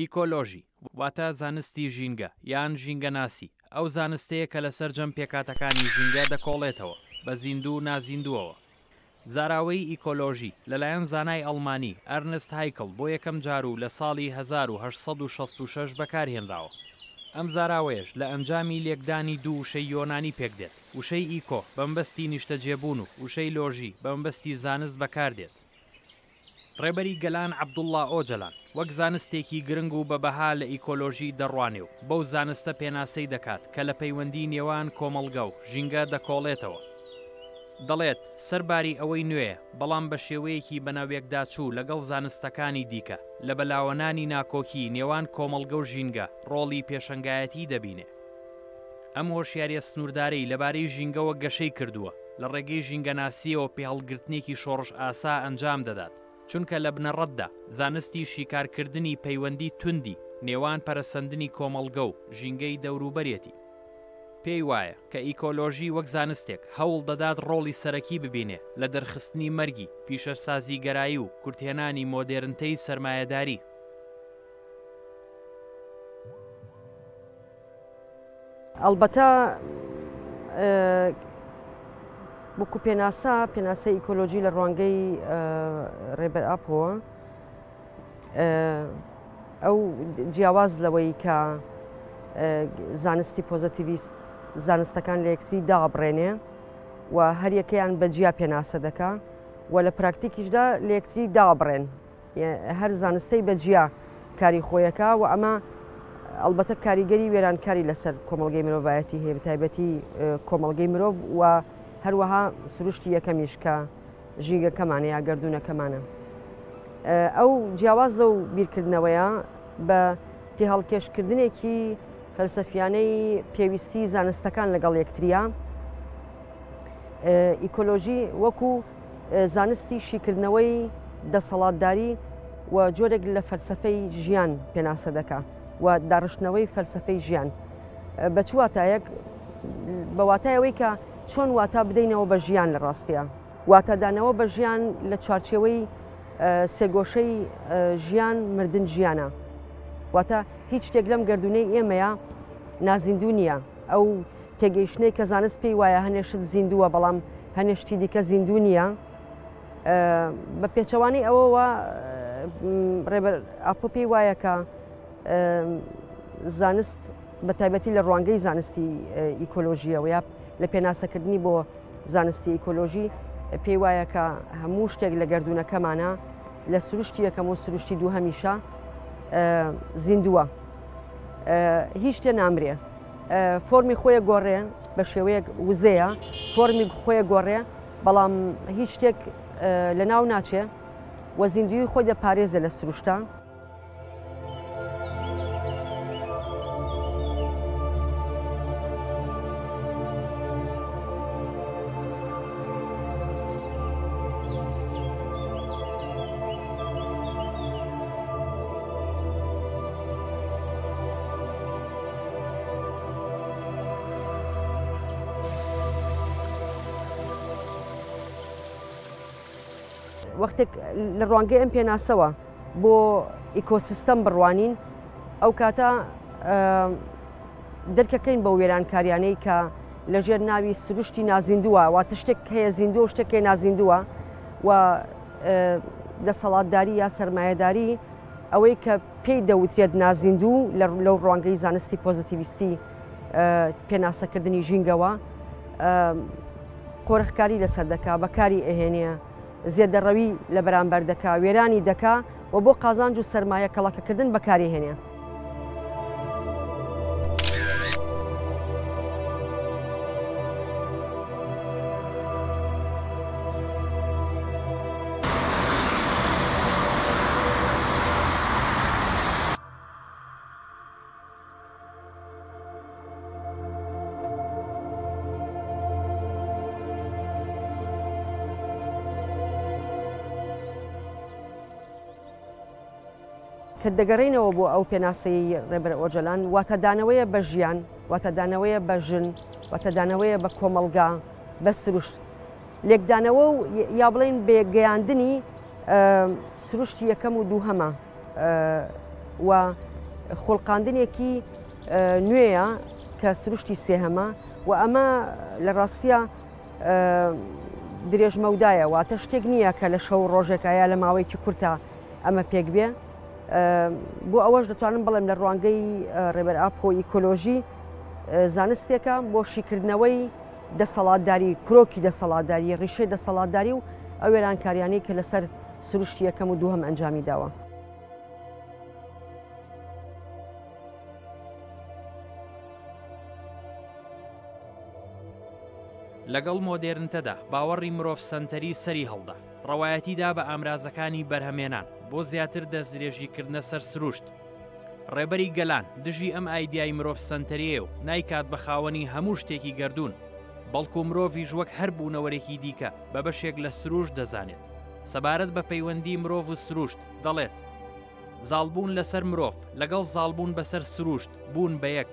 ئیکۆلۆژی، واتە زانستی ژینگە یان ژینگەناسی، ئەو زانستەیە کە لە سەرجەم پێکهاتەکانی ژینگە دەکۆڵێتەوە، بە زیندوو و نازیندووەوە، زاراوەی ئیکۆلۆژی لەلایەن زانای ئەڵمانی، ئەرنست هایکڵ، بۆ یەکەم جار و لە ساڵی هەزار و هەشت سەد و شەست و شەش بەکارهێنراوە. ئەم زاراوەیەش لە ئەنجامی لێکدانی دوو وشەی یۆنانی پێکدێت، وشەی ئیکۆ بەمەبەستی نیشتەجێبوون و وشەی لۆژی بەمەبەستی زانست بەکاردێت. ڕێبەری گەلان عەبدوڵڵا ئۆجەلان وەک زانستێکی گرنگ و بە بەها لە ئیکۆلۆژی دەڕوانێ و بەو زانستە پێناسەی دەکات کە لە پەیوەندی نێوان کۆمەڵگە و ژینگە دەکۆڵێتەوە. دەڵێت، سەر باری ئەوەی نوێیە، بەڵام بە شێوەیەکی بەناویەکداچوو لەگەڵ زانستەکانی دیکە، لە بەلاوەنانی ناکۆکی نێوان کۆمەڵگە و ژینگە ڕۆڵی پێشەنگایەتی دەبینێ. ئەم هۆشیارییە سنووردارەی لەبارەی ژینگەوە گەشەی کردووە، لە ڕێگەی ژینگەناسییەوە پێهەڵگرتنێکی شۆڕشئاسا ئەنجام دەدات، چونکە لە بنەڕەتدا زانستی شیکارکردنی پەیوەندی توندی نێوان پەرەسەندنی کۆمەڵگە و ژینگەی دەوروبەرێتی. پێی وایە کە ئیکۆلۆژی وەک زانستێک هەوڵ دەدات ڕۆڵی سەرەکی ببینێ لە دەرخستنی مەرگی پیشەسازیگەرایی و کورتهێنانی مۆدێرنتەی سەرمایەداری. ئەڵبەتە وەکو پێناسە پێناسە ئیکۆلۆژی لە ڕوانگەی ڕێبەر ئاپۆوە ئەو جیاواز لەوەی کە زانستی پۆزەتیویست زانستەکان لە یەکتری دابڕێنێ و هەریەکەیان بە جیا پێناسە دەکا و لە پراکتیکیشدا لە یەکتری دابڕێن هەر زانستەی بە جیا کاری خۆیەکە و ئەمە ئەلبەتە کاریگەری وێرانکاری لەسەر کۆمەلگەی مرۆڤایەتی هەیە بەتایبەتی کۆمەلگەی مرۆڤ و هەروەها سروشتی یەکەمیش کە ژینگەکەمانە یا گردونەکەمانە ئەو جیاواز لەو بیرکردنەوەیە بە تێهەڵکێشکردنێکی فەلسەفیانەی پێویستی زانستەکان لەگەڵ یەکتریا ئیکۆلۆژی وەکو زانستی شیکردنەوەی دەسەڵاتداری و جۆرێک لە فەلسەفەی ژیان پێناسە دەکا و داڕشتنەوەی فەلسەفەی ژیان بە چ واتایەک بە واتای ئەوەی کە چۆن واتا بدەینەوە بە ژیان لە ڕاستیە واتادانەوە بە ژیان لە چوارچێوەی سێگۆشەی ژیان مردن ژیانە واتە هیچ شتێک لەم گردونەی ئێمەیە نازیندوو نییە ئەو تێگەیشتنەی کە زانست پێی وایە هەنێ شت زیندووە بەڵام هەنێ شتی دیکە زیندوو نییە بە پێچەوانی ئەوەوە ڕێبەر ئاپۆ پێی وایە کە زانست بە تایبەتی لە ڕوانگەی زانستی ئیکۆلۆژیەوە یا لە پێناسەکردنی بۆ زانستی ئیکۆلۆژی پێی وایە کە هەموو شتێک لە گردونەکەمانە لە سروشتی یەکەم و سروشتی دوو هەمیشە زیندووە هیچ تێ نامرێ فۆمی خۆیە گۆڕێ بە شێوەیەک وزەیە فۆمی خۆیە گۆڕێ بەڵام هیچ شتێک لە ناو ناچێ و زیندوی خۆی دەپارێزە لە سروشتان وەختێک لە ڕوانگەی ئەم پێناسەوە بۆ ئیکۆسیستەم بڕوانین ئەو کاتە دەرکەکەین بە وێرانکاریانەی کە لەژێر ناوی سروشتی نازیندووە واتە شتێک هەیە زیندوە و شتێکێ نازیندووە و دەسەڵاتداری یا سەرمایەداری ئەوەی کە پێی دەوترێت نازیندوو لەو ڕوانگەی زانستی پۆزیتیویستی پێناسەکردنی ژینگەوە قۆرخکاری لەسەر دەکا بەکاری ئەهێنە زێدەڕەوی لە بەرامبەر دەکا وێرانی دەکا و بۆ قازانج و سەرمایە کەڵەکەکردن بەکاری هێنێ. کە دەگەڕینەوە بۆ ئەو پێناسەی ڕێبەر ئۆجەلان واتەدانەوەیە بە ژیان واتەدانەوەیە بە ژن واتەدانەوەیە بە کۆمەلگا بە سروشت لێکدانەوە و یا بڵین بێگەیاندنی سروشتی یەکەم و دووهەمە و خۆڵقاندنێکی نوێیە کە سروشتی سێهەمە و ئەمە لە ڕاستە درێژمەودایە واتە شتێک نییە کە لە شەو ڕۆژێکایە لە ماوەیەکی کورتە ئەمە پێک بێ بۆ ئەوەش دەتوانم بڵێم لە ڕوانگەی ڕێبەر ئاپۆ ئیکۆلۆژی زانستێکە بۆ شیکردنەوەی دەسەڵاتداری کرۆکی دەسەڵاتداری ڕیشەی دەسەڵاتداری و ئەو وێرانکاریانەی کە لەسەر سروشتی یەکەم و دووهەم ئەنجامی داوە. لەگەڵ مۆدێرنتەدا باوەڕی مرۆڤ سەنتەری سەری هەڵدا، ڕەوایەتی دا بە ئامرازەکانی بەرهەمێنان بۆ زیاتر دەستدرێژیکردنە سەر سروشت. ڕێبەری گەلان دژی ئەم ئایدیای مرۆڤ سەنتەریەیە و نایکات بە خاوەنی هەموو شتێکی گەردوون، بەڵکو مرۆڤیش وەک هەر بوونەوەرێکی دیکە بە بەشێک لە سروشت دەزانێت. سەبارەت بە پەیوەندی مرۆڤ و سروشت دەڵێت، زاڵبوون لەسەر مرۆڤ لەگەڵ زاڵبوون بەسەر سروشت بوون بە یەک،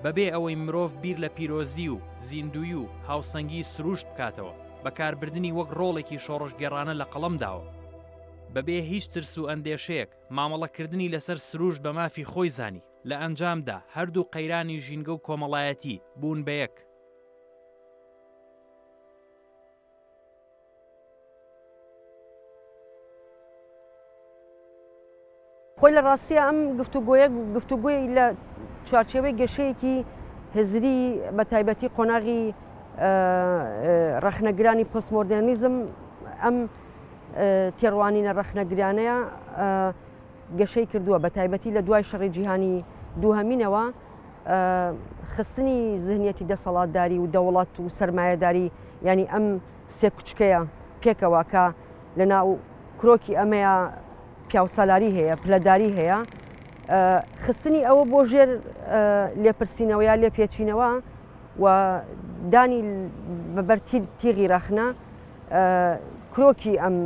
بەبێ ئەوەی مرۆڤ بیر لە پیرۆزی و زیندووی و هاوسەنگی سروشت بکاتەوە، بەکاربردنی وەک ڕۆڵێکی شۆڕشگێڕانە لە قەڵەم داوە. بەبێ هیچ ترس و ئەندێشەیەک مامەڵەکردنی لەسەر سروشت بە مافی خۆی زانی، لە ئەنجامدا هەردوو قەیرانی ژینگە و کۆمەڵایەتی بوون بە یەک. خۆی لە ڕاستیە ئەم گفتوگۆیە گفتوگوی لە چوارچێوەی گەشەیەکی هزری بە تایبەتی قۆناغی ڕەخنەگرانی پۆسمۆردێنیزم ئەم تێڕوانینە ڕەخنەگرانەیە گەشەی کردووە بە تایبەتی لە دوای شەڕی جیهانی دووهمینەوە خستنی زهنیەتی دەسەڵاتداری و دەوڵات و سرمایهداری ینی ئەم سێ کوچکەیە پێکەوە کە لە ناو کرۆکی ئەمەیە پیاوسالاری هەیە پلەداری هەیە خستنی ئەوە بۆ ژێر لێپرسینەوە یا لێ پێچینەوە و دانی بەبەر تیغی ڕەخنە کرۆکی ئەم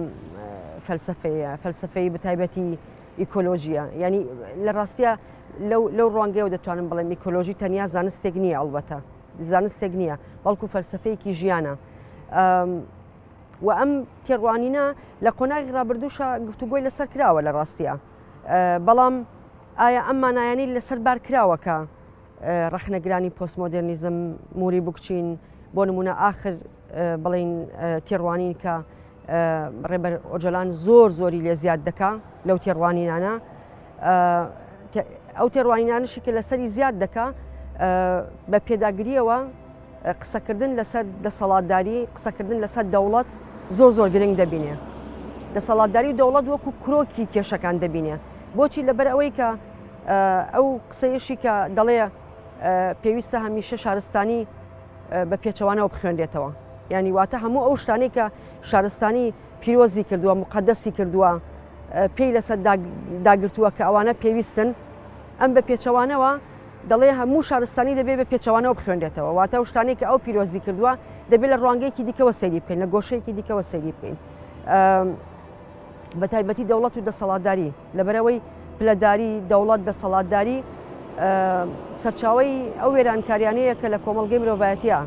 فەلسفەیە فەلسفەی بەتایبەتی ئیکۆلۆژییە یانی لە ڕاستیە لەو ڕوانگەیەوە دەتوانم بڵێم ئیکۆلۆژی تەنیا زانستێک نییە ئەڵبەتە زانستێک نییە بەڵکو فەلسفەیەکی ژیانە و ئەم تێڕوانینە لە قۆناغی ڕابردووشە گفتوگۆی لەسەر کراوە لە ڕاستیە بەڵام ئایا ئەم مانایانی لەسەر بار کراوەکە ڕخنەگرانی پۆستمۆدررنیزم موری بکچین بۆ نمونە آخر بڵین تێڕوانین کە ڕێبەر ئۆجلان زۆر زۆری لێ زیاد دەکا لەو تێڕوانینانە ئەو تێڕوانینانشی کە لەسەری زیاد دەکا بە پێداگریەوە قسەکردن لەسەر دەسەڵاتداری قسەکردن لەسەر دەوڵەت زۆر زۆر گرنگ دەبینێ دەسەڵاتداری دەوڵەت وەکو کرۆکی کێشەکان دەبینێ بۆچی لەبەر ئەوەی کە ئەو قسەیەشی کە دەڵێ پێویستە هەمیشە شارستانی بە پێچەوانەوە بخوێنرێتەوە ینی واتە هەموو ئەو شتانی کە شارستانی پیرۆزی کردووە مقدەسی کردووە پێی لەسەر داگرتووە کە ئەوانە پێویستن ئەم بە پێچەوانەوە دەڵێ هەموو شارستانی دەبێت بە پێچەوانەوە بخوێنێتەوە واتە ئەو شتانی کە ئەو پیرۆزی کردووە دەبێت لە ڕوانگەیەکی دیکەوە سەیری بکەین لە گۆشەیەکی دیکەوە سەیری بکەین بە تایبەتی دەوڵەت و دەسەڵاتداری لەبەرئەوەی پلەداری دەوڵەت، دەسەڵاتداری، سەرچاوەی ئەو وێرانکاریانەیە کە لە کۆمەڵگەی مرۆڤایەتیا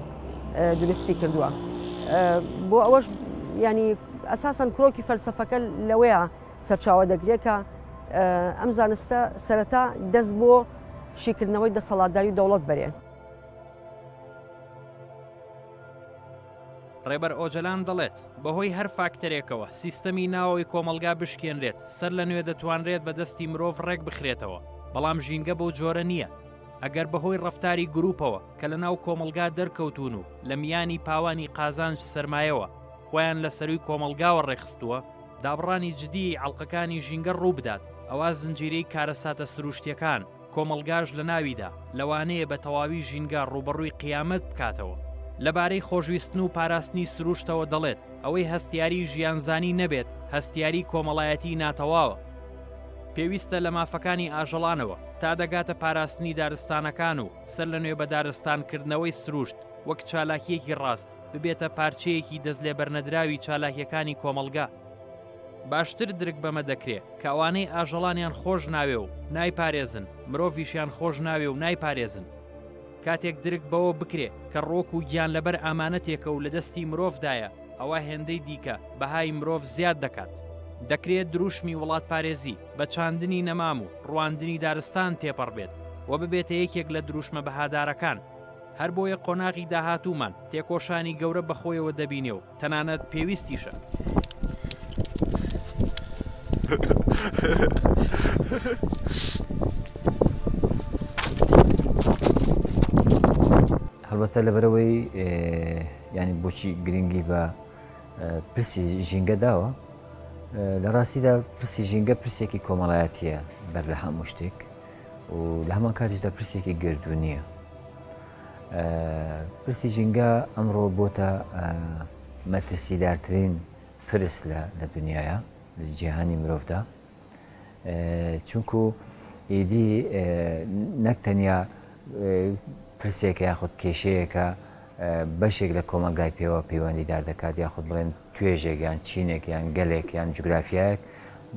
دروستی کردووە بۆ ئەوەش ینی ئەساسەن کرۆکی فەلسفەکە لەوەیە سەرچاوە دەگرێت کە ئەم زانستە سەرەتا دەست بۆ شیکردنەوەی دەسەڵاتداری دەوڵەت بەرێ ڕێبەر ئۆجەلان دەڵێت، بەهۆی هەر فاکتەرێکەوە سیستەمی ناوەوەی کۆمەڵگا بشکێنرێت، سەرلەنوێ دەتوانرێت بە دەستی مرۆڤ ڕێکبخرێتەوە، بەڵام ژینگە بەو جۆرە نییە، ئەگەر بەهۆی ڕەفتاری گرووپەوە کە لەناو کۆمەڵگا دەرکەوتوون و لە میانی پاوانی قازانج سەرمایەوە خۆیان لە سەرووی کۆمەڵگاوە ڕێکخستووە، دابڕانی جدیی ئەڵقەکانی ژینگە ڕووبدات، ئەوا زنجیرەی کارەساتە سرووشتییەکان، کۆمەڵگاش لە ناویدا، لەوانەیە بە تەواوی ژینگە ڕووبەڕووی قیامەت بکاتەوە. لەبارەی خۆشویستن و پاراستنی سرووشتەوە دەڵێت، ئەوەی هەستیاریی ژیانزانی نەبێت، هەستیاریی کۆمەڵایەتیی ناتەواوە. پێویستە لە مافەکانی ئاژەڵانەوە تا دەگاتە پاراستنی دارستانەکان و سەرلەنوێ بەدارستانکردنەوەی سرووشت وەک چالاکییەکی ڕاست، ببێتە پارچەیەکی دەستلێبەرنەدراوی چالاکییەکانی کۆمەڵگا. باشتر درک بەمە دەکرێ کە ئەوانەی ئاژەڵانیان خۆش ناوێ و نایپارێزن، مرۆڤیشیان خۆش ناوێ و نایپارێزن. کاتێک درک بەوە بکرێ کە ڕۆک و گیان لەبەر ئامانەتێکە و لە دەستی مرۆڤدایە، ئەوە هێندەی دیکە بەهای مرۆڤ زیاد دەکات. دەکرێ دروشمی وڵاتپارێزی بە چاندنی نەمام و ڕواندنی دارستان تێپەڕ بێت و ببێتە یەکێک لە دروشمە بەهادارەکان. هەربۆیە قۆناغی داهاتوومان تێکۆشانی گەورە بەخۆیەوە دەبینێ و تەنانەت پێویستیشە. هەڵبەتە لەبەرەوەی ینی بۆچی گرنگی بە پرسی ژینگە داوە لە ڕاستیدا پرسی ژینگە پرسێکی کۆمەڵایەتیە بەر لە هەموو شتێک و لە هەمان کاتیشدا پرسێکی گردو نییە پرسی ژینگە ئەمڕۆ بۆتە مەترسیدارترین پرس لە لە دنیاە لە جیهانی مرۆڤدا چونکو ئیدی نەک تەنیا پرسێکە یاخود کێشەیەەکە بەشێک لە کۆمەلگای پێوە پەیوەندیدار دەکات یاخود بڵێن توێژێک یان چینێک یان گەلێک یان جوگرافایەک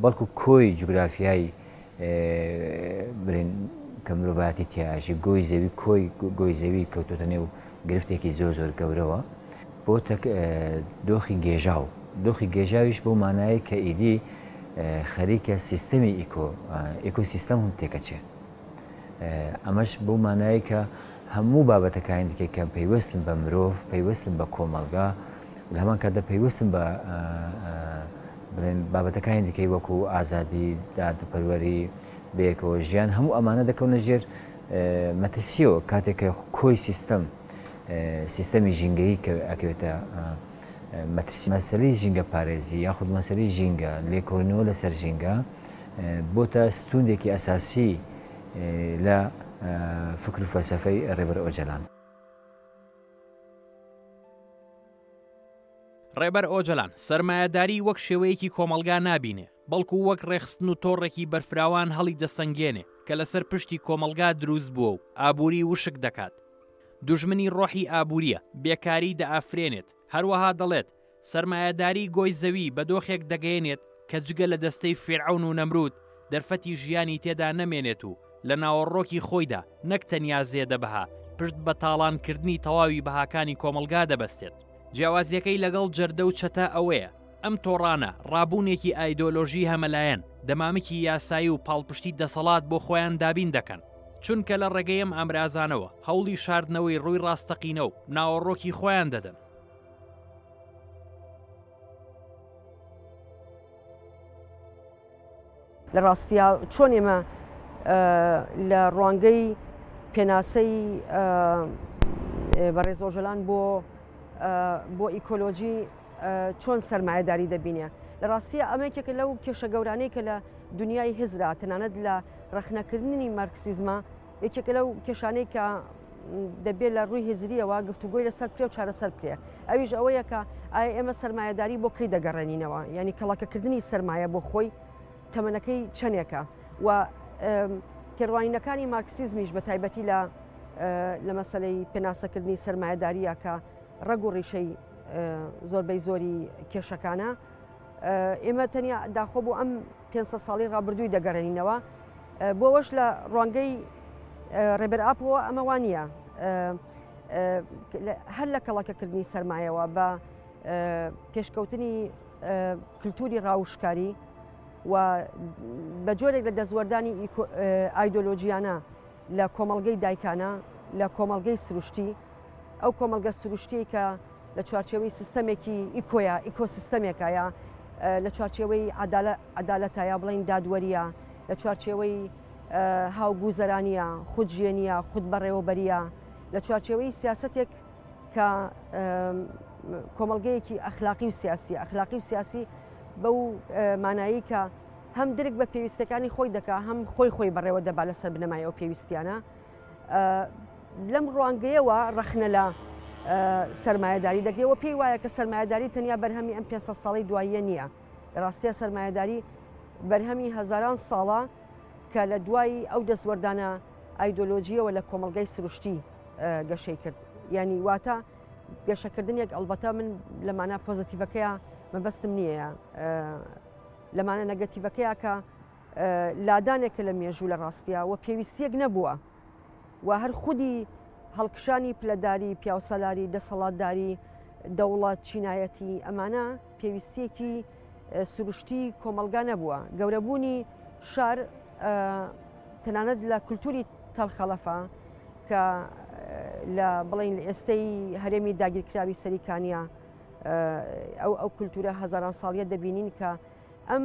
بەڵکو کۆی جوگرافیایی برین کە مرۆڤایەتی تیایەژی گۆی زەوی کۆی گۆی زەوی کەوتۆتە نێو گرفتێکی زۆر زۆر گەورەوە بۆ تەک دۆخی گێژاو دۆخی گێژاویش بۆ مانایی کە ئیدی خەریکە سیستەمی ئیکۆ ئیکۆ سیستەم هەم تێکەچێ ئەمەش بۆ مانایی کە هەموو بابەتەکانی دیکە کە پەیوەستن بە مرۆڤ پەیوەستن بە کۆمەلگا لە هەمان کاتدا پەیوەستم بە بڵێن بابەتەکانی دیکەی وەکو ئازادی، دادپەروەری، بەیەکەوە ژیان، هەموو ئەمانە دەکەونە ژێر مەترسییەوە کاتێک کە کۆی سیستەم، سیستەمی ژینگەیی کە ئەکەوێتە مەترسی. مەسەلەی ژینگەپارێزی یاخود مەسەلەی ژینگە، لێکۆڵینەوە لەسەر ژینگە بۆتە ستوونێکی ئەساسی لە فکر و فەلسەفەی ڕێبەر ئۆجەلان. ڕێبەر ئۆجەلان سەرمایەداری وەک شێوەیەکی کۆمەڵگا نابینێ بەڵکو وەک ڕێخستن و تۆڕێکی بەرفراوان هەڵی دەسەنگێنێ کە لەسەر پشتی کۆمەڵگا دروست بووە و ئابووری وشک دەکات دوژمنی ڕۆحی ئابووریە بێکاری دەئافرێنێت هەروەها دەڵێت سەرمایەداریی گۆی زەوی بە دۆخێک دەگەیەنێت کە جگە لە دەستەی فیرعەون و نەمروود، دەرفەتی ژیانی تێدا نەمێنێت و لە ناوەڕۆکی خۆیدا نەک تەنیا زێدە بەها، پشت بە تاڵانکردنی تەواوی بەهاکانی کۆمەڵگا دەبەستێت. جیاوازییەکەی لەگەڵ جەردە و چەتە ئەوەیە، ئەم تۆڕانە ڕابوونێکی ئایدۆلۆژیی هەمەلایەن، دەمامکی یاسایی و پاڵپشتی دەسەڵات بۆ خۆیان دابین دەکەن، چونکە لە ڕێگەی ئەم ئامرازانەوە هەوڵی شاردنەوەی ڕووی ڕاستەقینە و ناوەڕۆکی خۆیان دەدەن. لە ڕاستیا چۆن ئێمە لە ڕوانگەی پێناسەی بە ڕێزۆژەلان بۆ بۆ ئیکۆلۆژی چۆن سەرمایەداری دەبینێ لە ڕاستیە ئەمەکێکە لەو کێشە گەورانەی کە لە دنیای هزرا تەنانەت لە ڕخنەکردنی مارکسیزما یەکێکە لەو کێشانەی کە دەبێت لە ڕووی هزریەوە گفتوگۆی لەسەر پێ و چارەسەر پێ ئەویش ئەوەیە کە ئایا ئێمە سرمایهداری بۆ کەی دەگەڕێنینەوە ینی کەڵەکەکردنی سرمایە بۆ خۆی تەمەنەکەی چەندێکە و تێڕوانینەکانی مارکسیزمیش بە تایبەتی لە لە مەسلەی پێناسەکردنی سرمایهداریە کە ڕەگ و ڕیشەی زۆربەی زۆری کێشەکانە ئێمە تەنیا داخۆ بۆ ئەم پێ ساڵی ڕابردووی دەگەڕێنینەوە بۆەوەش لە ڕوانگەی ڕێبەر ئاپەوە ئەمەوا نییە هەر لە کەڵەکەکردنی سرمایەوە بە پێشکەوتنی کللتوری ڕاوشکاری و بە جۆرێک لە دەستوەردانی ئایدۆلۆژیانە لە کۆمەڵگەی دایکانە، لە کۆمەڵگەی سروشتی، ئەو کۆمەڵگە سروشتیەی کە لە چوارچێوەی سیستەمێکی ئیکۆیە، ئیکۆسیستەمێکایە، لە چوارچێوەی عەدالە، عەدالەتە یا بڵێین دادوەرییە، لە چوارچێوەی هاوگوزەرانییە، خود ژێنییە، خود بەڕێوەبەرییە، لە چوارچێوەی سیاسەتێک کە کۆمەڵگەیەکی ئەخلاقی و سیاسیە، ئەخلاقی و سیاسی بەو مانایی کە، هەم درک بە پێویستەکانی خۆی دەکا هەم خۆی خۆی بەڕێوە دەبا لەسەر بنەمای ئەو پێویستیانە لەم ڕوانگەیەوە ڕەخنە لە سرمایهداری دەگرێەوە پێی وایە کە سرمایهداری تەنیا بەرهەمی ئەم پێ ساڵی دواییە نییە لە ڕاستە سرمایهداری بەرهەمی هەزاران ساڵە کە لە دوای ئەو دەستوەردانە ئایدۆلۆژیەوە لە کۆمەلگای سروشتی گەشەی کرد ینی واتە گەشەکردنێک ئەلبەتە من لەمانە پۆزتیڤەکەیە مەبەستم نییە لە مانا نەگەتیڤەکەیا کە لادانێکە لە مێژوو لە ڕاستیا و پێویستیەک نەبووە و هەر خودی هەڵکشانی پلەداری پیاوسالاری دەسەڵاتداری دەوڵات چینایەتی ئەمانە پێویستیەکی سروشتی کۆمەلگا نەبووە گەورەبوونی شار تەنانەت لە کولتوری تەلخەڵەفە کە لە بڵین لە ئێستەی هەرێمی داگیرکراوی سەریکانیا ئەو ئەو کولتورە هەزاران ساڵیە دەبینین کە ئەم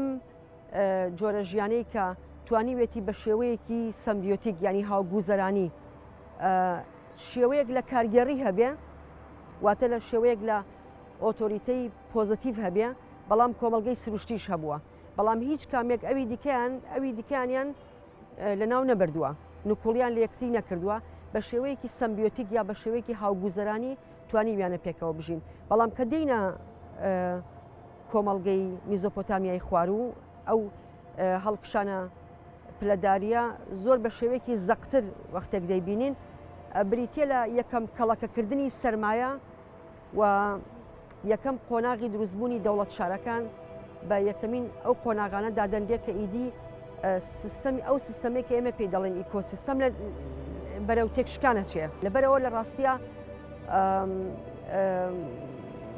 جۆرە ژیانەی کە توانیوێتی بە شێوەیەکی سمبیۆتیک ینی هاوگوزەرانی شێوەیەک لە کارگێڕی هەبێ واتە لە شێوەیەک لە ئۆتۆریتەی پۆزتیڤ هەبێ بەڵام کۆمەلگەی سروشتیش هەبووە بەڵام هیچ کامێک ئەوی دیکەیان ئەوی دیکانیان لە ناو نەبردووە نکوڵیان لە یەکتری نەکردووە بە شێوەیەکی سمبیۆتیک یا بە شێوەیەکی هاوگوزەرانی توانیویانە پێکەوە بژین، بەڵام کە دێینە کۆمەڵگەی میزۆپۆتامیای خواروو ئەو هەڵکشانە پلەداریە زۆر بە شێوەیەکی زەقتر وەختێک دەیبینین بریتە لە یەکەم کەڵەکەکردنی سرمایە و یەکەم قۆناغی دروستبوونی دەوڵەت شارەکان بە یەکەمین ئەو قۆناغانە دادەنرێت کە ئیدی سیستەمی ئەو سیستەمەی کە ئێمە پێی دەڵێن ئیکۆسیستەم لە بەرەو تێکشکانە چێ لەبەرەوە لە ڕاستە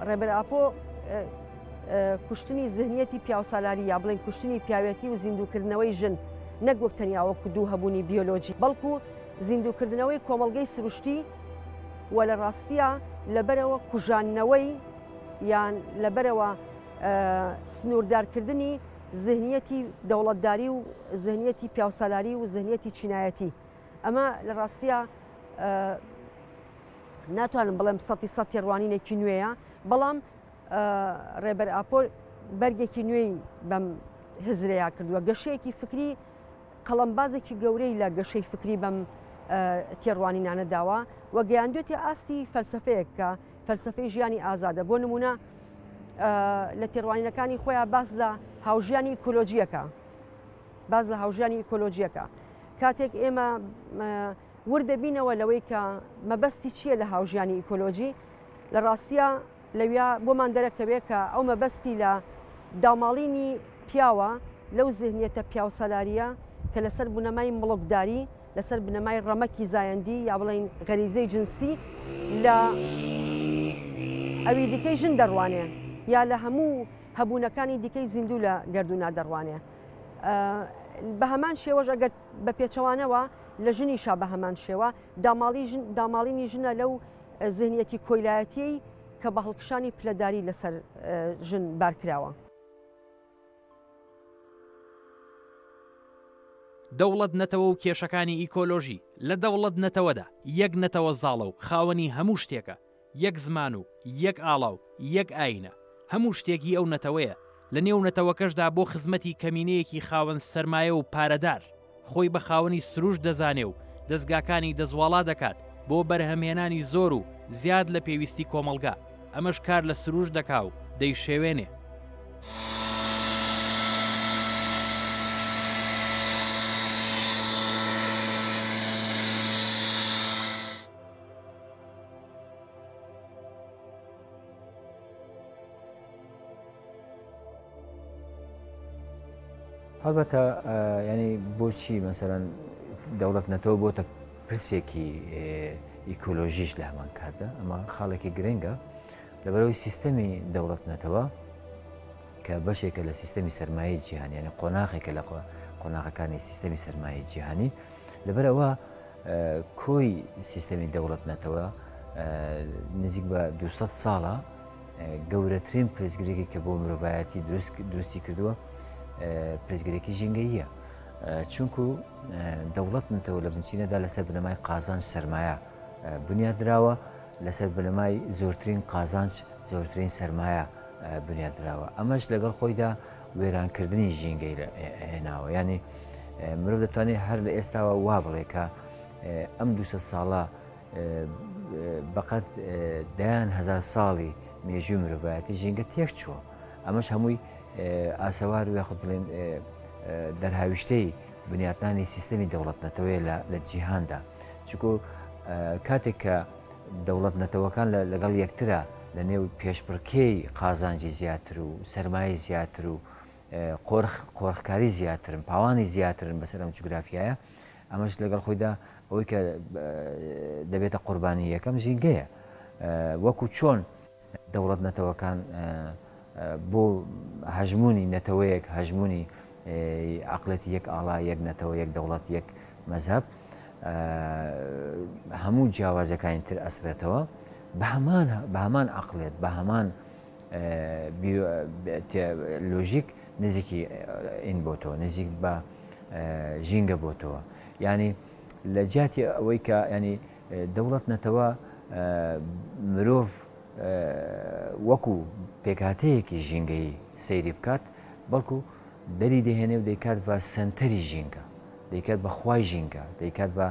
ڕێبەر ئاپۆ کوشتنی زهنیەتی پیاوسالاری یا بڵێن کوشتنی پیاوەتی و زیندووکردنەوەی ژن نەک وەک تەنیاوە کودوو هەبوونی بیۆلۆژی بەڵکو زیندووکردنەوەی کۆمەلگەی سروشتی و لە ڕاستە لەبەرەوە کوژانەوەی یان لەبەرەوە سنووردارکردنی زهنیەتی دەوڵەتداری و زهنیەتی پیاوسالاری و زهنیەتی چینایەتی ئەمە لە ڕاستە ناتوانم بڵێم سەتی سە تێڕوانینێکی نوێیە بەڵام ڕێبەر ئاپۆ بەرگێکی نوێی بەم هزرەیە کردووە گەشەیەکی فکری قەڵمبازێکی گەورەی لە گەشەی فکری بەم تێڕوانینانە داوە و گەیاندوێتی ئاستی فەلسفەیەک کە فەلسەفەی ژیانی ئازادە بۆ نمونە لە تێڕوانینەکانی خۆیان باس لە هاوژیانی ئیکۆلۆژیەکە باز لە هاوژیانی ئیکۆلۆژیەکە کاتێک ئێمە وردەبینەوە لەوەی کە مەبەستی چییە لە هاوژیانی ئیکۆلۆژی لە ڕاستە لەویا بۆمان دەرەکەوێت کە ئەو مەبەستی لە داماڵینی پیاوە لەو زهنیەتە پیاوسەلاریە کە لەسەر بنەمای مڵکداری لەسەر بنەمای ڕەمەکی زایەندی یا بڵێین غەریزەی جنسی لە ئەوی دیکەی ژن دەڕوانێ یا لە هەموو هەبوونەکانی دیکەی زیندوو لە گردونا دەڕوانێ بە هەمان شێوەش ئەگەر بە پێچەوانەوە لە ژنیشا بە هەمان شێوە داماڵی داماڵینی ژنە لەو زیهنیەتی کۆیلایەتی کە بە هەڵکشانی پلەداری لەسەر ژن بارکراوە. دەوڵەت نەتەوە و کێشەکانی ئیکۆلۆژی، لە دەوڵەت نەتەوەدا، یەک نەتەوە زاڵە و خاوەنی هەموو شتێکە، یەک زمان و یەک ئاڵا و یەک ئایینە، هەموو شتێک هی ئەو نەتەوەیە، لە نێو نەتەوەکەشدا بۆ خزمەتی کەمینەیەکی خاوەن سەرمایە و پارەدار، خۆی بە خاوەنی سروشت دەزانێ و دەزگاکانی دەزواڵا دەکات بۆ بەرهەمهێنانی زۆر و زیاد لە پێویستی کۆمەڵگا، ئەمەش کار لە سروشت دەکا و دەیشێوێنێ. هەڵبەتە ینی بۆچی مەسەرەن دەوڵەت نەتۆ بۆتە پرسێکی ئیکۆلۆژیش لە هەمان کاتدا ئەمە خاڵێکی گرنگە لەبەرەوەی سیستەمی دەوڵەت نەتەوە کە بەشێکە لە سیستەمی سرمایە جیهانی یعنی قۆناغێکە لە قۆناغەکانی سیستەمی سرمایە جیهانی لەبەرەوە کۆی سیستەمی دەوڵەت نەتەوە نزیک بە 200 ساڵە گەورەترین پرسگرێکی کە بۆ مرۆڤایەتی دروستی کردووە پرسگرێکی ژینگەییە چونکو دەوڵەت نتەوە لە بنچینەدا لەسەر بنەمای قازانج سرمایە بنیادراوە لەسەر بنەمای زۆرترین قازانج زۆرترین سرمایە بنیادراوە ئەمەش لەگەڵ خۆیدا وێرانکردنی ژینگەی هێناوە ینی مرۆڤ دەتوانێت هەر لە ئێستاوە وا بڵێکە ئەم دوسە ساڵە بەقەد دەیان هەزار ساڵی مێژووی مرۆڤایەتی ژینگە تێک چووە ئەمەش هەمووی ئاسەوار و یاخود بڵێن دەرهاویشتەی بنیاتنانی سیستەمی دەوڵەت نەتەوەیە لە جیهاندا چکۆ کاتێک کە دەوڵەت نەتەوەکان لەگەڵ یەکترە لە نێو پێشبڕکێی قازانجی زیاتر و سرمایە زیاتر و قۆرخکاری زیاترن پاوانی زیاترن بەسەر ئەم جوگرافایە ئەمەش لەگەڵ خۆیدا ئەوەی کە دەبێتە قوربانی یەکەم ژینگەیە وەکو چۆن دەوڵەت نەتەوەکان بۆ هەژمونی نەتەوەیەک هەژمونی عقلەتی یەک ئاڵا یەک نەتەوە یەک دەوڵەت یەک مەذهب هەموو جیاوازەکانی تر ئەسرێتەوە بە هەمان بە هەمان عقلێت بە هەمان بیۆلۆژیک نزیکی ین بۆ تۆ نزیک بە ژینگە بۆ تۆ یانی لە جیاتی ئەوەی کە ینی دەوڵەت نەتەوە مرۆڤ وەکو پێکهاتەیەکی ژینگەی سەیری بکات بەڵکو دەری دەهێنێ و دەیکات بە سنتەری ژینگە دەیکات بە خوای ژینگە دەیکات بە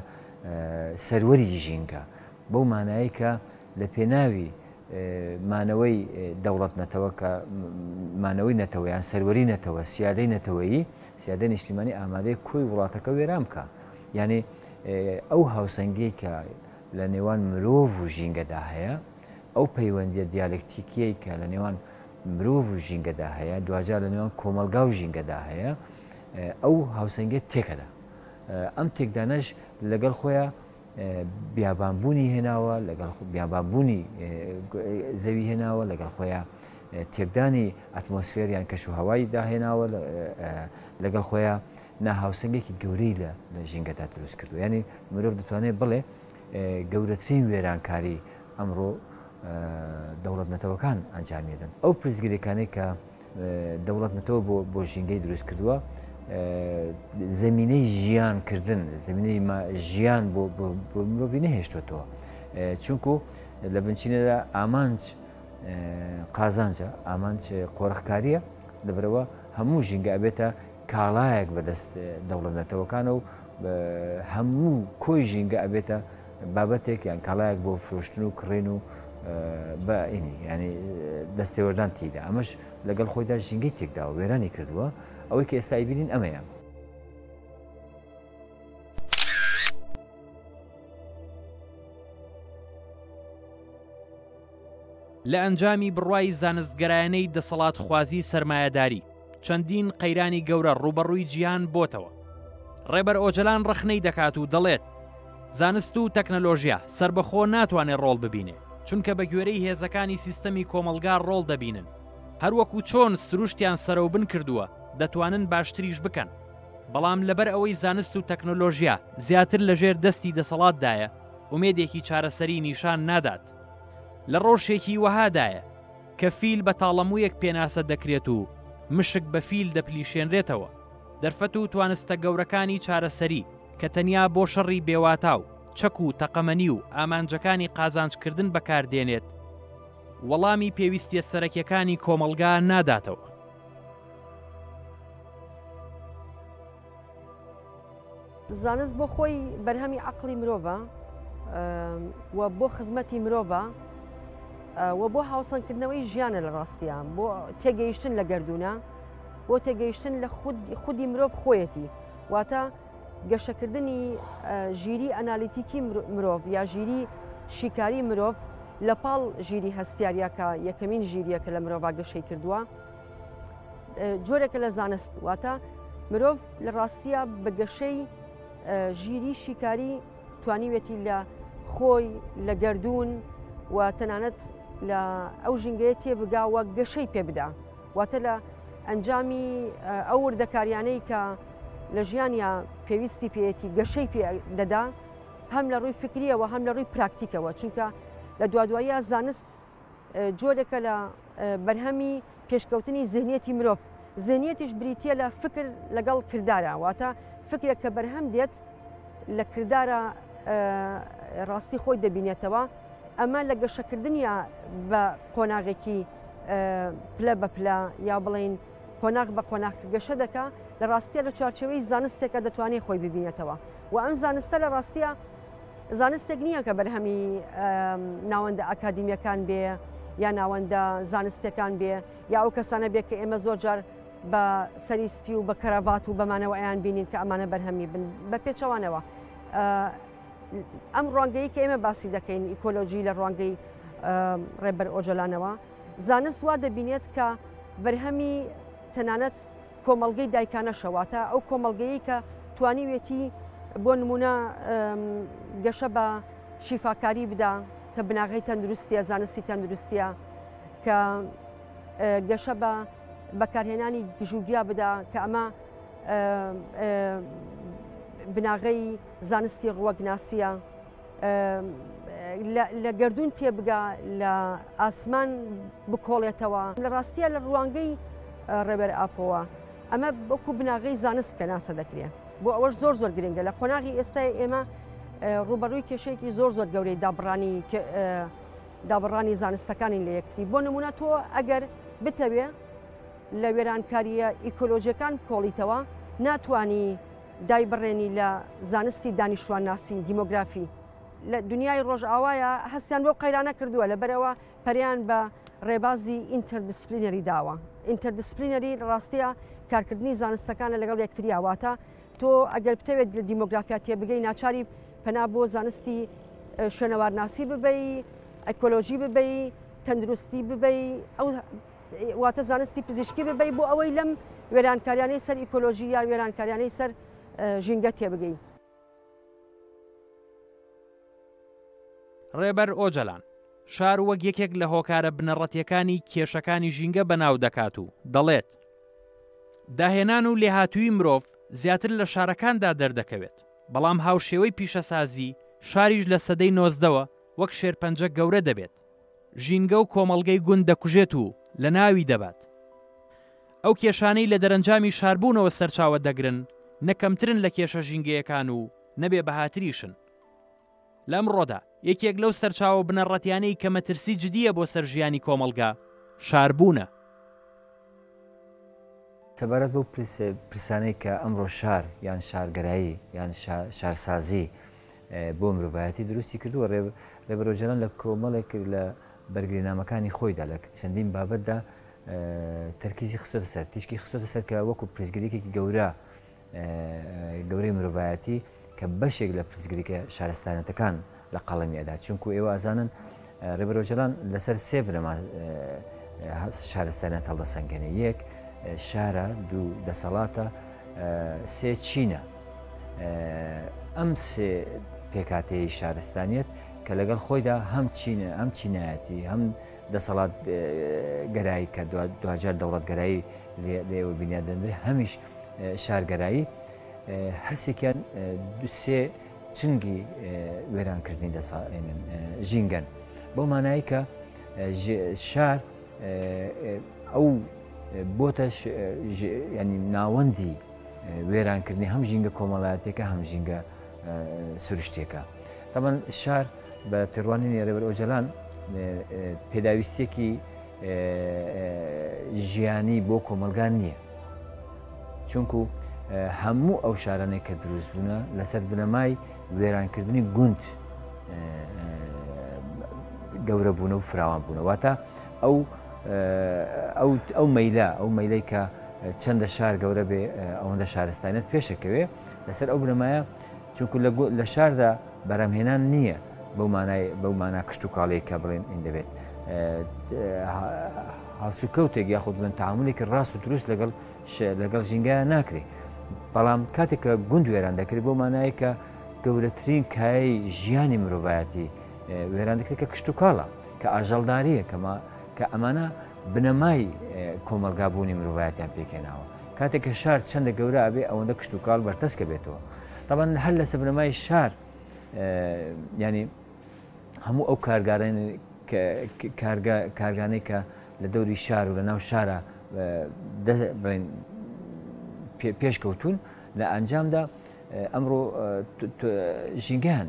سەروەری ژینگە بەو مانایەی کە لە پێناوی مانەوەی دەوڵەت نەتەوە کە مانەوەی نەتەوەیان سەروەری نەتەوە سیادەی نەتەوەیی سیادە نیشتیمانی ئامادەی کۆی وڵاتەکە وێران بکە یعنی ئەو هاوسەنگی کە لە نێوان مرۆڤ و ژینگەدا هەیە ئەو پەیوەندیە دیالکتیکیەی کە لە نێوان مرۆڤ و ژینگەدا هەیە دوجار لە نێوان کۆمەلگا و ژینگەدا هەیە ئەو هاوسەنگێت تێکەدا ئەم تێکدانەش لەگەڵ خۆیان بیابان بوونی هێناوە لەگەڵ بیابان بوونی زەوی هێناوە لەگەڵ خۆیە تێکدانی ئەتمۆسفێر یان کەش و هەوای داهێناوە لەگەڵ خۆیە ناهاوسەنگێکی گەورەی لە لە ژینگەدا دروست کردو ینی مرۆڤ دەتوانێت بڵێ گەورەترین وێرانکاری ئەمڕۆ دەوڵەت نەتەوەکان ئەنجامیدن ئەو پرسگرێکانێک کە دەوڵەت نەتەوە بۆ بۆ ژینگەی دروست کردووە زمینەی ژیان کردن زمینەی ژیان بۆ مرۆڤی نەهێشتوێتەوە چونکو لە بنچینەدا ئامانج قازانجە ئامانج قۆرخکاریە لەبرەوە هەموو ژینگە ئەبێتە کاڵایەک بەدەست دەوڵەت نەتەوەکانە و هەموو کۆی ژینگە ئەبێتە بابەتێک یان کاڵایەک بۆ فرۆشتن و کڕین و بەئینی ینی دەستێوەردان تیدا ئەمەش لەگەڵ خۆیدا ژینگەی تێکداوە وێرانی کردووە ئەوەی کە ئێستای بینین ئەمەیە لە ئەنجامی بڕوای زانستگەرایانەی دەسەڵاتخوازی سەرمایەداری چەندین قەیرانی گەورە ڕووبەڕووی جیهان بۆتەوە. ڕێبەر ئۆجەلان ڕەخنەی دەکات و دەڵێت، زانست و تەکنەلۆژیا سەربەخۆ ناتوانێت ڕۆڵ ببینێ، چونکە بەگوێرەی هێزەکانی سیستەمی کۆمەڵگا ڕۆڵ دەبینن، هەروەکو چۆن سروشتیان سەرەوبن کردووە دەتوانن باشتریش بکەن، بەڵام لەبەر ئەوەی زانست و تەکنەلۆژیا زیاتر لەژێر دەستی دەسەڵاتدایە، ئومێدێکی چارەسەری نیشان نادات. لە ڕەوشێکی وەهادایە. کە فیل بە تاڵەموویەک پێناسە دەکرێت و مشک بە فیل دەپلیشێنرێتەوە، دەرفەت و توانستە گەورەکانی چارەسەری کە تەنیا بۆ شەڕی بێواتا و چەک و تەقەمەنی و ئامانجەکانی قازانجکردن بەکاردێنێت، وەڵامی پێویستیە سەرەکیەکانی کۆمەڵگا ناداتەوە. زانست بۆ خۆی بەرهەمی عەقڵی مرۆڤە و بۆ خزمەتی مرۆڤە و بۆ هاوسەنگکردنەوەی ژیانە لە ڕاستیە بۆ تێگەیشتن لە گردونە بۆ تێگەیشتن لە خودی مرۆڤ خۆیەتی واتە گەشەکردنی ژیری ئەنالیتیکی مرۆڤ یا ژیری شیکاری مرۆڤ لە پاڵ ژیری هەستیاریەکە یەکەمین ژیریەکە لە مرۆڤ گەشەی کردووە جۆرێکە لە زانست واتە مرۆڤ لە ڕاستیە بە گەشەی ژیری شیکاری توانیوێتی لە خۆی لە گردردون و تەنانەت لە ئەو ژنگەیە تێبگا وە گەشەی پێ بدا واتە لە ئەنجامی ئەو وردەکاریانەی کە لە ژیانیا پێویستی پێەتی گەشەی پێ دەدا هەم لە ڕووی فکریەوە هەم لە ڕووی پراکتیکەوە چونکە لە دوادواییە زانست جۆرێکە لە بەرهەمی پێشکەوتنی زهنیەتی مرۆڤ زهنیەتیش بریتە لە فکر لەگەڵ کردارە واتە فکرێک کە بەرهەم دێت لە کردارە ڕاستی خۆی دەبینێتەوە ئەمە لە گەشەکردنیە بە قۆناغێکی پلە بە پلە یا بڵین قۆناغ بە قۆناغ گەشە دەکە لە ڕاستیە لە چوارچەوەی زانستێکە دەتوانێت خۆی ببینێتەوە و ئەم زانستە لە ڕاستیە زانستێک نییە کە بەرهەمی ناوەندە ئاکادمیەکان بێ یا ناوەندە زانستەکان بێ یا ئەو کەسانە بێ کە ئێمە زۆر جار بە سەری سپی و بە کەرەڤات و بەمانەوە ئەیان بینین کە ئەمانە بەرهەمی بن بە پێچەوانەوە ئەم ڕوانگەی کە ئێمە باسی دەکەین ئیکۆلۆژی لە ڕوانگەی ڕێبەر ئۆجلانەوە زانست وا دەبینێت کە بەرهەمی تەنانەت کۆمەڵگەی دایکانەشە واتە ئەو کۆمەڵگەیی کە توانیوێتی بۆ نمونە گەشە بە شیفاکاری بدا کە بناغی تەندروستیە زانستی تەندروستیە کە گەشە بە بەکارهێنانی گژوگیا بدا کە ئەمە بناغەی زانستی ڕوەگناسیە لە گردون تێبگا لە ئاسمان بکۆڵێتەوە لە ڕاستیە لە ڕوانگەی ڕێبەر ئاپۆوە ئەمە بەکو بناغی زانست پێناسە دەکرێت بۆ ئەوەش زۆر زۆر گرنگە لە قۆناغی ئێستای ئێمە ڕوبەڕووی کێشێکی زۆر زۆر گەورەی دابڕانی دابڕانی زانستەکانی لە یەکتری بۆ نمونە تۆ ئەگەر بتەوێ لە وێرانکاریە ئیکۆلۆژیەکان کۆڵیتەوە ناتانی دایبڕێنی لە زانستی دانیشتوانناسی، دیمۆگرافی، لە دنیای ڕۆژئاوایە هەستیان بەو قەیرانە کردووە لەبەرئەوە پەرەیان بە ڕێبازی ئینتەردسپلینەری داوە. ئینتەردسپلینەری لە ڕاستیا کارکردنی زانستەکانە لەگەڵ یەکتریا واتە تۆ ئەگەر بتەوێت لە دیمۆگرافیا تێبگەی ناچاری پەنا بۆ زانستی شوێنەوارناسی ببەی، ئەکۆلۆژی ببەی، تەندروستی ببەی ئەو واتە زانستی پزیشکی ببەی بۆ ئەوەی لەم وێرانکاریانەی سەر ئیکۆلۆژی یان وێرانکاریانەی سەر ژینگە تێبگەین. ڕێبەر ئۆجەلان شار وەک یەکێک لە هۆکارە بنەڕەتیەکانی کێشەکانی ژینگە بەناو دەکات و دەڵێت داهێنان و لێهاتووی مرۆڤ زیاتر لە شارەکاندا دەردەکەوێت بەڵام هاوشێوەی پیشەسازی شاریش لە سەدەی نۆزدەوە وەک شێرپەنجە گەورە دەبێت ژینگە و کۆمەڵگەی گوند دەکوژێت و لەناوی دەبات. ئەو کێشانەی لە دەرەنجامی شاربوونەوە سەرچاوە دەگرن نە کەمترن لە کێشە ژینگەیەکان و نە بێ بەهاتریشن. لە ئەمڕۆدا یەکێک لەو سەرچاوە بنەڕەتیانەی کە مەترسی جدییە بۆ سەر ژیانی کۆمەڵگە، شاربوونە. سەبارەت بەو پرسانەی کە ئەمڕۆ شار یان شارگەرایی یان شارسازی بۆ مرۆڤایەتی دروستی کردووە ڕێ ڕێبەرۆجەران لە کۆمەڵێک لە بەرگرینامەکانی خۆیدا لە چەندین بابەتدا تەرکیزی خستۆتە سەر تیشکی خستۆتە سەر کە وەکو پرسگریکێکی گەورە گەورەی مرۆڤایەتی کە بەشێک لە پرسگریکە شارستانەتەکان لە قەڵەمی ئەدات چونکو ئێوە ئازانن ڕێبەر ئۆجەلان لەسەر سێ بنەما شارستانەت هەڵدەسەنگێنێ یەک شارە دوو دەسەڵاتە سێ چینە ئەم سێ پێکاتەیە شارستانیت کە لەگەڵ خۆیدا هەم چینە ئەم چینایەتی هەم دەسەڵات گەرایی کە دواجار دەوڵەتگەرایی لێوە بینیادەندرێ هەمیش شارگەرایی هەرسێکیان دوسێ چنگی وێرانکردنی دەساێنن ژینگەن بۆ مانایی کە شار ئەو بۆتە ینی ناوەندی وێرانکردنی هەم ژینگە کۆمەڵایەتەکە هەم ژینگە سروشتێکە تەمەەن شار بە تێڕوانی نێرەبەر ئۆجلان پێداویستێکی ژیانی بۆ کۆمەلگا نییە چونکو هەموو ئەو شارانێک کە دروست بوونە لەسەر بنەمای وێرانکردنی گوند گەورە بوون و فراوان بوونەوەتا ئەو ئەو مەیلا ئەو مەیلەی کە چەندە شار گەورە بێ ئەوەندە شارستانیت پێشەکەوێ لەسەر ئەو بنەمایە چونکو لە شاردا بەرەمهێنان نییە بەو مانای بەو مانا کشتوکاڵی کە بڵێن ئین دەبێت هەڵسوکەوتێک یاخود بن تعاملێکی ڕاست و دروست لەگەڵ لەگەڵ ژینگایان ناکرێت بەڵام کاتێک کە گوند وێران دەکرێت بۆ مانایی کە گەورەترین کایی ژیانی مرۆڤایەتی وێران دەکرێت کە کشتوکاڵە کە ئاژەڵداریە کەمە کە ئەمانە بنەمای کۆمەلگابوونی مرۆڤایەتیان پێکێناوە کاتێک کە شار چەندە گەورە ئەبێ ئەوەندە کشتوکاڵ بەرتەسکە بێتەوە تاوان هەر لەسە بنەمای شار ینی هەموو ئەو کارگارانی کارگانەی کە لە دەوری شار و لە ناو شارە بڵێن پێشکەوتون لە ئەنجامدا ئەمڕۆ ژینگەیان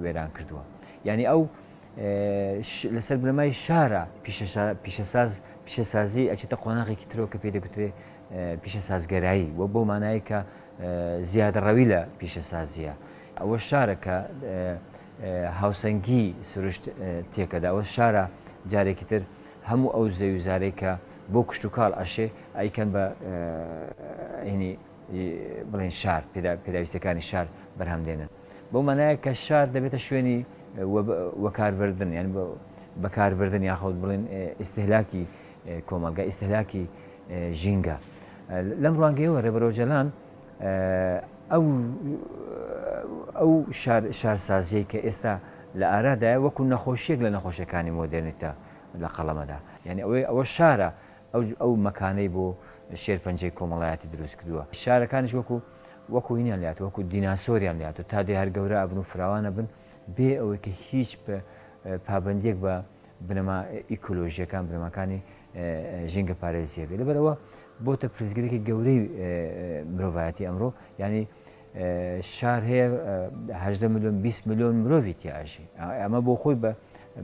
وێران کردووە ینی ئەو لەسەر بنەمای شارە پیشەساز پیشەسازی ئەچێتە قۆناغێکی ترەوە کە پێ دەگوترێ پیشە سازگەرایی و بۆ مانایە کە زیادەڕەوی لە پیشەسازییە. ئەوە شارە کە هاوسەنگی سروشت تێکەدا. ئەوە شارە جارێکی تر هەموو ئەو زەویوزارەی کە بۆ کشتوکاڵ ئەشێ ئەیکەن بە ئەینی بڵێین شار، پێداویستیەکانی شار بەرهەم دێنن. بەو مانایە کە شار دەبێتە شوێنی وەکاربردن یان بەکاربردن یاخود بڵێین ئیستهلاکی کۆمەڵگا ئیستهلاکی ژینگە. لەم ڕوانگەیەوە رێبەر ئۆجەلان ئەو ئەو شارسازیەی کە ئێستا لە ئارادایە وەکو نەخۆشیەک لە نەخۆشیەکانی مۆدێرنیتە لە قەڵەمەدا. یانی ئەوەی ئەوە شارە ئەو مەکانەی بۆ شێرپەنجەی کۆمەڵایەتی دروست کردوە. شارەکانیش وەکو وەکو هینیان لێهاتوە وەکو دیناسۆریان لێهاتوە تا دێ هەر گەورە ئەبن و فراوان ئەبن بێ ئەوەی کە هیچ پابەندیەک بە بنەما ئیکۆلۆژییەکان، بنەماکانی ژینگەپارێزییەکە. لەبەر ئەوە بۆتە پرسگرێکی گەورەی مرۆڤایەتی ئەمڕۆ، یانی شار هەیە هەژدە ملیۆن 20 ملیۆن مرۆڤی تیاژی. ئەمە بۆ خۆی بە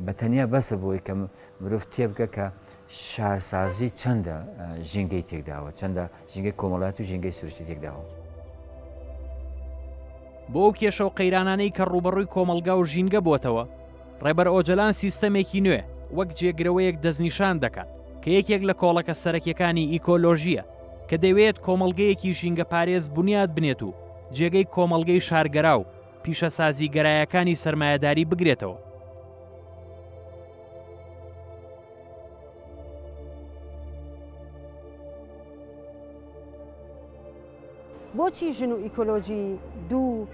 بە تەنیا بەسە بۆی کە مرۆڤ تێبگە کە شارسازی چەندە ژینگەی تێکداوە، چەندە ژینگەی کۆمەڵایەت و ژینگەی سروشتی تێکداوە. بۆ ئەو کێشە و قەیرانانەی کە ڕووبەڕووی کۆمەڵگا و ژینگە بۆتەوە، ڕێبەر ئۆجەلان سیستەمێکی نوێ وەک جێگرەوەیەک دەستنیشان دەکات کە یەکێک لە کۆڵەکە سەرەکیەکانی ئیکۆلۆژییە کە دەیوێت کۆمەڵگەیەکی ژینگەپارێز بونیاد بنێت و جێگەی کۆمەڵگەی شارگەرا و پیشەسازیگەرایەکانی سەرمایەداری بگرێتەوە. بۆچی ژن و ئیکۆلۆژی دوو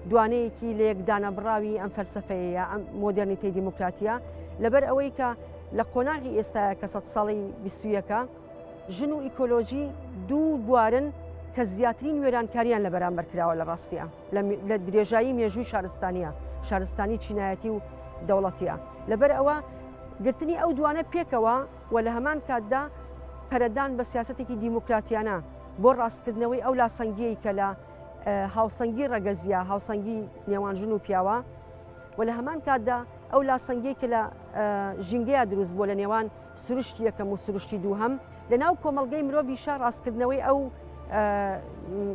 دوانەیەکی لە یەک دانەبڕاوی ئەم فەلسەفەیە ئەم مۆدرنیتەی دیموکراتیە لەبەر ئەوەی کە لە قۆناغی ئێستاە کە سەد ساڵی بیستویەکە ژن و ئیکۆلۆژی دوو بوارن کە زیاترین وێرانکارییان لە بەرامبەر کراوە لە ڕاستییە لە درێژایی مێژووی شارستانیە شارستانی چینایەتی و دەوڵەتیە لەبەر ئەوە گرتنی ئەو دوانە پێکەوە و لە هەمان کاتدا پەرەدان بە سیاستێکی دیموکراتیانە بۆ ڕاستکردنەوەی ئەو لاسەنگیی کە لە هاوسەنگی ڕەگەزیە هاوسەنگی نێوان ژن و پیاوە و لە هەمان کاتدا ئەو لاسەنگی کە لە ژینگەیە دروست بۆ لە نێوان سروشتی یەکەم و سروشتی دووهەم لە ناو کۆمەڵگەی مرۆڤیشە ڕاستکردنەوەی ئەو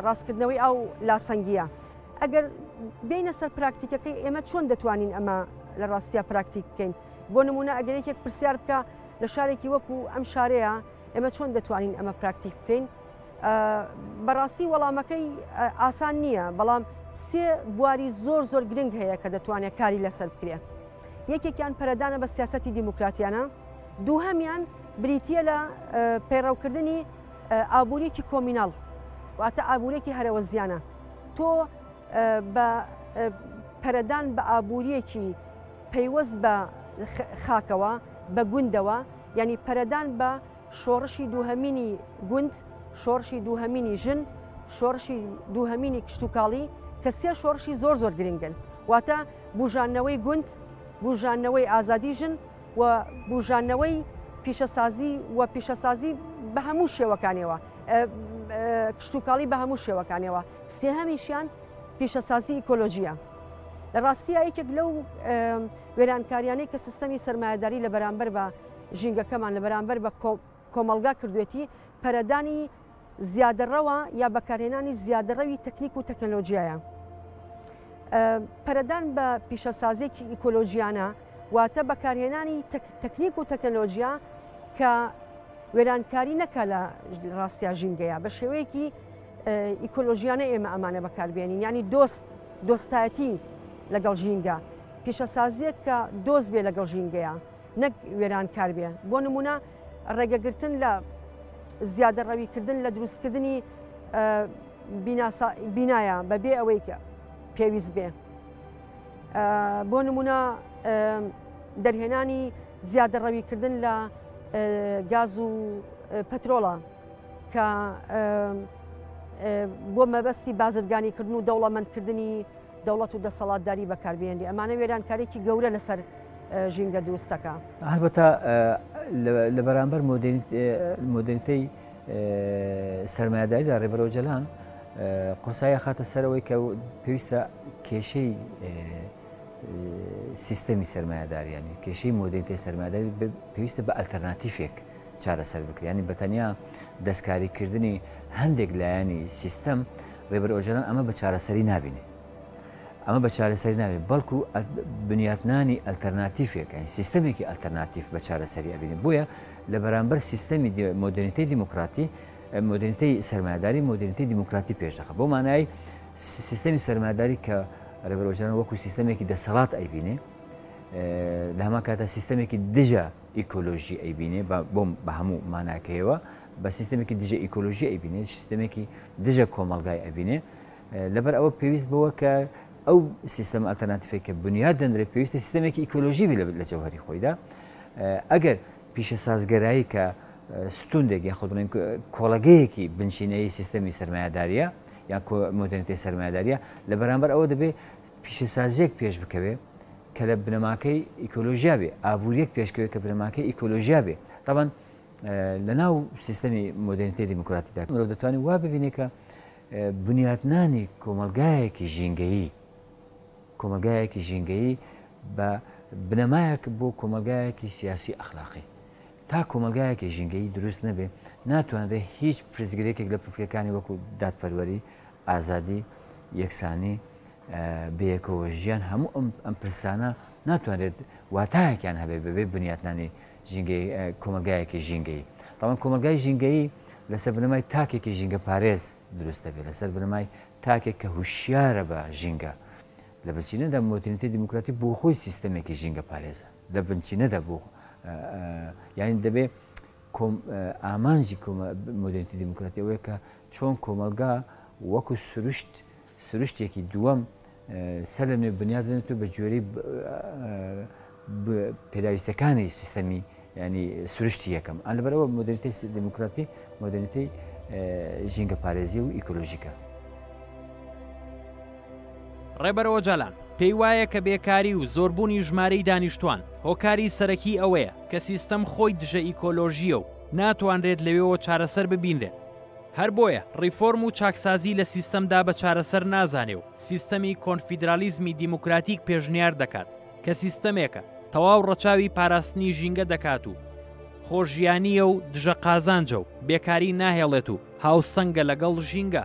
ڕاستکردنەوەی ئەو لاسەنگیە ئەگەر بینە سەر پراکتیکەکەی ئێمە چۆن دەتوانین ئەمە لە ڕاستیا پراکتیک بکەین بۆ نمونە ئەگەر یەکێک پرسیار بکە لە شارێکی وەکو ئەم شارەیە ئێمە چۆن دەتوانین ئەمە پراکتیک بکەین بەڕاستی وەڵامەکەی ئاسان نییە بەڵام سێ بواری زۆر زۆر گرنگ هەیە کە دەتوانێت کاری لەسەر بکرێت یەکێکیان پەرەدانە بە سیاسەتی دیموکراتیانە، دووهەمیان بریتییە لە پەیڕەوکردنی ئابووریەکی کۆمیناڵ واتە ئابوورێکی هەرەوەزیانە تۆ بە پەرەدان بە ئابووریەکی پەیوەست بە خاکەوە بە گوندەوە ینی پەرەدان بە شۆڕشی دووهەمینی گوند، شۆڕشی دووهەمینی ژن، شۆڕشی دووهەمینی کشتوکاڵی کە سێ شۆڕشی زۆر زۆر گرنگن، واتە بوژانەوەی گوند، بوژانەوەی ئازادی ژن و بوژانەوەی پیشەسازی و پیشەسازی بە هەموو شێوەکانیەوە، کشتوکاڵی بە هەموو شێوەکانیەوە. سێهەمیشیان پیشەسازی ئیکۆلۆژییە. لە ڕاستییا یەکێک لەو وێرانکاریانەی کە سیستەمی سەرمایەداری لە بەرامبەر بە ژینگەکەمان لە بەرامبەر بە کۆمەڵگا کردوێتی پەرەدانی زیادەڕەوە یا بەکارهێنانی زیادەڕەوی تەکنیک و تەکنەلۆژیایە. پەرەدان بە پیشەسازێکی ئیکۆلۆژیانە واتە بەکارهێنانی تەکنیک و تەکنەلۆژیا کە وێرانکاری نەکە لە ڕاستیا ژینگەیە بە شێوەیەکی ئیکۆلۆژیانە ئێمە ئەمانە بەکاربیێنین ینی دۆست دۆستایەتی لەگەڵ ژینگە پیشەسازیەک کە دۆست بێ لەگەڵ ژینگەیە نەک وێرانکار بێ، بۆ نموونە ڕێگەگرتن لە زیادەڕەویکردن لە دروستکردنی بینایە بەبێ ئەوەی پێویست بێ بۆ نمونە دەرهێنانی زیادەڕەویکردن لە گاز و پەترۆڵە کە بۆ مەبەستی بازرگانیکردن و دەوڵەمەندکردنی دەوڵەت و دەسەڵاتداری بەکاربهێنرێ ئەمانە وێرانکاریی گەورە لەسەر ژینگە دروستەکە. هەربەتە لە بەرامبەر مۆدێنیتەی سەرمایەداریدا ڕێبەر ئۆجەلان قورسایی ئەخاتە سەرەوەی کە پێویستە کێشەی سیستەمی سەرمایەداریانی کێشەی مۆدێنیتەی سەرمایەداری پێویستە بە ئەلتەرناتیفێک چارەسەر بکرێت یانی بەتەنیا دەستکاری کردنی هەندێک لایەنی سیستەم ڕێبەر ئۆجەلان ئەمە بە چارەسەری نابینێ ئەمە بە چارەسەری ناوێت بەڵکو بنیاتنانی ئەلتەرناتیفێکەین سیستمێکی ئەلتەرناتیف بە چارەسەری ئەبینێ بۆیە لە بەرامبەر سیستەمی مۆدرنیتی دیموکراتی مدرنیتی سەرمایداری مدرنیتی دیموکراتی پێشدەخە بۆ مانایی سیستەمی سەرماداری کە ڕێبەرۆژان وەکو سیستەمێکی دەسەڵات ئەیبینێ لە هەما کاتە سیستەمێکی دژە ئیکۆلۆژی ئەیبینێ بۆم بە هەموو ماناکەیەوە بە سیستمێکی دژە ئیکۆلۆژی ئەیبینێ سیستمێکی دژە کۆمەلگای ئەبینێ لەبەر ئەوە پێویست بەوە کە ئەو سیستم ئەتەناتفێک کە بنیاد دەندرێت پێویستە سیستمێکی ئیکۆلۆژی لە جەوهری خۆیدا ئەگەر پیشە سازگەرایی کە ستوندێک یا خودڵێن کۆڵەگەیەکی بنچینەی سیستەمی سرمایهداریە یا مۆدرنیتی سرمایهداریە لە بەرامبەر ئەوە دەبێت پیشەسازیەک پێش بکەوێ کە لە بنەماکەی ئیکۆلۆژیا بێ، ئابوورییەک پێشکەوێ کە بنەماکەی ئیکۆلۆژیا بێ. تابان لە ناو سیستەمی مۆدێرنیتەی دیموکراتیکدا مرۆڤ دەتوانێ وا ببینێ کە بنیاتنانی کۆمەڵگایەکی ژینگەیی، کۆمەڵگایەکی ژینگەیی بە بنەمایەک بۆ کۆمەڵگایەکی سیاسی ئەخلاقی. تا کۆمەڵگایەکی ژینگەیی دروست نەبێ، ناتوانرێ هیچ پرسگرێکێک لە پرسگەکانی وەکوو دادپەروەری، ئازادی، یەکسانی، بەیەکەوە ژیان هەموو ئەم پرسانە ناتوانرێت واتایەکیان هەبێت بەبێ بنیاتنانی کۆمەلگایەکی ژینگەیی تاوان کۆمەلگای ژینگەیی لەسەر بنەمای تاکێکی ژینگە پارێز دروست دەبێت لەسەر بنەمای تاکێک کە هوشیارە بە ژینگە لە بچینەدا مۆتنیتی دیموکراتی بۆ خۆی سیستەمێکی ژینگە پارێزە لە بنچینەدا بۆ یعنی دەبێت ئامانجی مۆدرنیتی دیموکراتی ئەوەیە کە چۆن کۆمەلگا وەکو سروشت سروشتێکی دووەم سەر لە نوێ بنیات بنێت و بە گوێرەی پێداویستەکانی سیستەمی ینی سروشتی یەکەم ئەن لەبەرەوە مدرری دموکراتی مدرری ژینگە پارێزی و ئیکۆلۆژیکە. ڕێبەرەوە جالان پێی وایە کە بێکاری و زۆربوونی ژمارەی دانیشتوان هۆکاری سەرەکی ئەوەیە کە سیستەم خۆی دژە ئیکۆلۆژیە و ناتوانرێت لەوێوە چارەسەر ببینرێت هەر بۆیە ڕیفۆرم و چاکسازی لە سیستەمدا بە چارەسەر نازانێ و سیستەمی کۆنفیدرالیزمی دیموکراتیک پێشنیار دەکات کە سیستەمێکە تەواو ڕەچاوی پاراستنی ژینگە دەکات و خۆشیانییە و دژە قازانجە و بێکاری ناهێڵێت و هاوسەنگە لەگەڵ ژینگە.